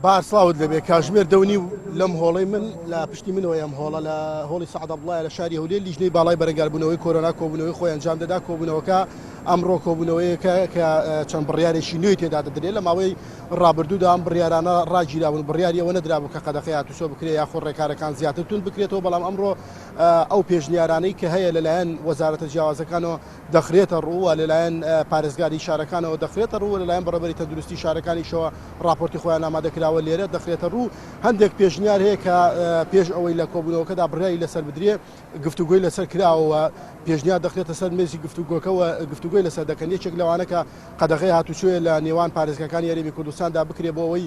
بار سڵاوت لێبێ کاژمێر دەو نیو لەم هۆڵەی من لە پشتی منەوە ئەم هۆڵە لە هۆڵی سەعدا بڵایە لە شاری هەولێر لیژنەی باڵای بەرەنگاربوونەوەی کۆرۆنا کۆبوونەوەی خۆی ئەنجام دەدا کۆبوونەوەکە ئەمڕۆ کۆبوونەوەیەکە کە چەند بڕیارێکی نوێی تێدا دەدرێت لە ماوەی ڕابردوودا ئەم بڕیارانە ڕاگیراون بڕیاری ئەوە نەدرابوو کە قەدەخی هاتوچۆ بکرێت یاخۆ ڕێکارەکان زیاتر تون بکرێتەوە بەڵام ئەمڕۆ ئەو پێشنیارانەی کە هەیە لەلایەن وەزارەتە جیاوازەکانەوە دەخرێتە ڕوو و لەلایەن پارێزگاری شارەکانەوە دەخرێتە ڕوو و لەلایەن بەڕێوەبەری تەندروستی شارەکانیشەوە ڕاپۆرتی خۆیان ئامادەکراوە لێرە دەخرێتە ڕوو. هەندێک پێشنیار هەیە کە پێش ئەوەی لە کۆبوونەوەکەدا بڕیاری لەسەر بدرێ گفتوگۆی لەسەر کراوە و پێشنیار دەخرێتە سەر مێزی گفتوگۆکە و گفتوگۆی لەسەر دەکەن یەکێک لەوانە کە قەدەغەی هاتوچۆیە لە نێوان پارێزگاکانی هەرێمی کوردستاندا بکرێ بۆ ئەوەی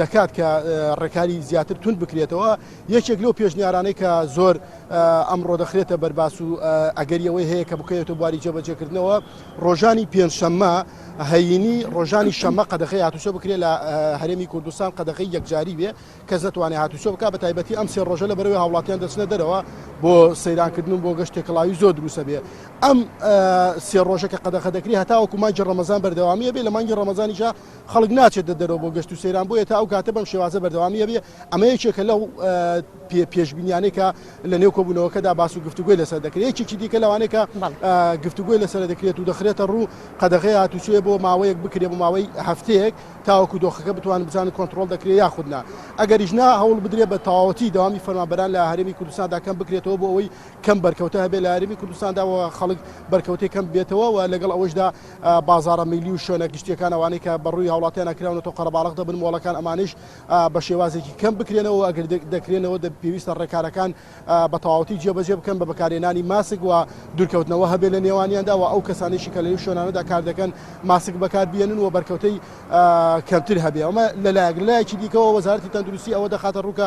دەکات کە ڕێکاری زیاتر توند بکرێتەوە یەکێک لەو پێشنیارانەی کە زۆر ئەمڕۆ دەخرێتە بەرباس و ئەگەری ئەوەی هەیە کە بکەوێتە بواری جێبەجێکردنەوە ڕۆژانی پێنجشەممە هەینی ڕۆژانی شەمە قەدەخی هاتوچە بکرێت لە هەرێمی کوردستان قەدەخی یەکجاری بێ کەس نتوانێت هاتوچە بک بە تایبەتی ئەم سێ ڕۆژە لە بەرەوەی هاوڵاتیان دەچنە دەرەوە بۆ سەیرانکردن و بۆ گەشت تێکەڵاوی زۆر دروستە بێ ئەم سێ ڕۆژە کە قەدەخە دەکری هەتاوەکو مانگی ڕەمەزان بەردەوامیە بێ لە مانگی ڕەمەزانیشە خەڵک ناچێتە دەرەوە بۆ گەشت و سەیران بۆیە تا ئەو کاتە بەم شێوازە بەردەوامی هەبێ ئەمە یەکێکە لەو پێشبینیانێکە لە نێو کۆبوونەوەکەدا باس و گفتوگوی لەسەر دەکرێت یەکێکی دیکە لەوانێکە گفتوگوی لەسەر دەکرێت و دەخرێتە ڕوو قەدەغی هاتوچێ بۆ ماوەیەک بکرێ بۆ ماوەی هەفتەیەک تاوەکو دۆخەکە بتوان بزان کۆنتترۆل دەکرێت یاخودنا ئەگەریش نا هەوڵ بدرێت بە تەواوەتی داوامی فەرمانبەران لە هەرێمی کوردستاندا کەم بکرێتەوە بۆ ئەوەی کەم بەرکەوتە هەبێت لە هەرێمی کوردستاندا و خەڵک بەرکەوتەکەم بێتەوە و لەگەڵ ئەوەشدا بازاڕە میللی و شوێنە گشتییەکان ئەوانەی کە بە ڕووی هاوڵاتیانە کراونەتەوە قەرەباڵغ دەبن مۆڵەکان ئەمانیش بە شێوازێکی کەم بکرێنەوە ئەگەر دەکرێنەوە پێویستە ڕێکارەکان بە تەواوەتی جێبەجێ بکەن بە بەکارهێنانی ماسک و دوورکەوتنەوە هەبێ لە نێوانیاندا و ئەو کەسانێکی کە لە شوێنانەدا کار دەکەن ماسک بەکار بێنن و بەرکەوتەی کەمتر هەبێ ئەمە لەلایەک لایەکی دیکەەوە وەزارتی تەندروستی ئەوە دەخاتە ڕووکە